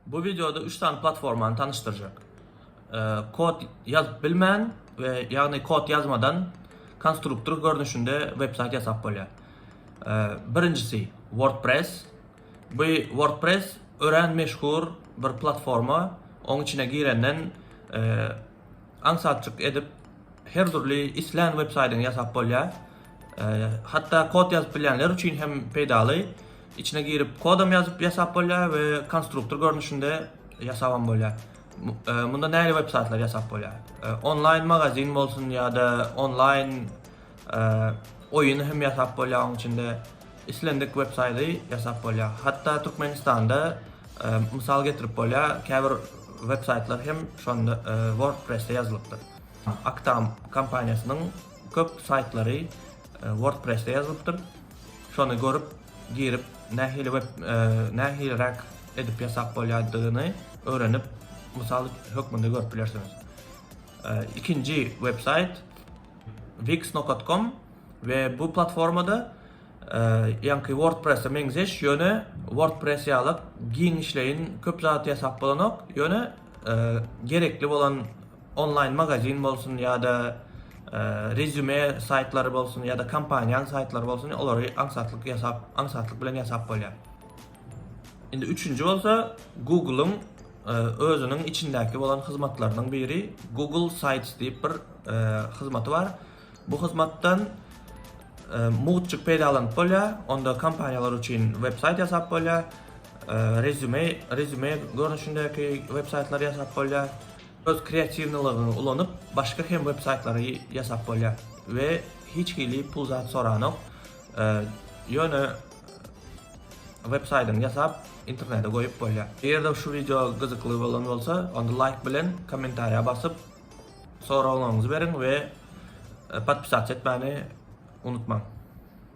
Bu wideoda üç sany platformany tanyşdyrjak. Kod ýazyp bilmän we ýagny kod ýazmadan konstruktor görnüşinde websaýt ýasap bolýar. Birinjisi WordPress. Bu WordPress örän meşhur bir platforma. Oň içine girenden aňsatjyk edip her dürli islän websaýdyňy ýasap bolýar. Hatda kod ýazyp bilýänler üçin hem peýdaly. Içine girip kodam ýazyp ýasap bolýar we konstruktor görnüşinde ýasabam bolýar. Munda näli web saýtlar ýasap bolýar? Onlaýn magazin bolsun ýa-da onlaýn oýun hem ýasap bolýar oň içinde. Islendik web saýty ýasap bolýar. Hatda Türkmenistanda mysal getirip bolýar, käbir web saýtlar hem şonda WordPress-de ýazylypdyr. Aktam kompaniýasynyň köp saýtlary WordPress-de ýazylypdyr. Şony görüp girip nähili web nähiliräk edip ýasap bolýadygyny öwrenip mysal hökmünde görüp bilersiňiz. Ikinji web saýt wix nokat kom we bu platformada ýaňky wordpresse meňzeş ýöne wordpress ýalyk giň işleýin köp zat ýasap bolanok ýöne gerekli bolan onlaýn magazin bolsun ýa-da rezüme saýtlary bolsun ýa-da kompaniýanyň saýtlary bolsun olary aňsatlyk ýasap aňsatlyk bilen ýasap bolýar. Indi üçünji bolsa Google-yň özüniň içindäki bolan hyzmatlarynyň biri Google Sites diýip bir hyzmaty bar. Bu hyzmatdan mugt peýdalanyp bolýar. Onda kompaniýalar üçin websaýt ýasap bolýar. Rezüme, rezüme görnüşindäki websaýtlary ýasap bolýar. Öz kreatiwnylygyňy ulanyp, başga hem websaýtlary ýasap bolýar we hiç hili pul zat soranok. Ýöne websaýdyňy ýasap, internete goýup bolýar. Eger-de şu wideo gyzykly bolan bolsa, onda laýk bilen, kommentariýa basyp, Soraglaryňyzy beriň we podpisatsi etmäni unutmaň.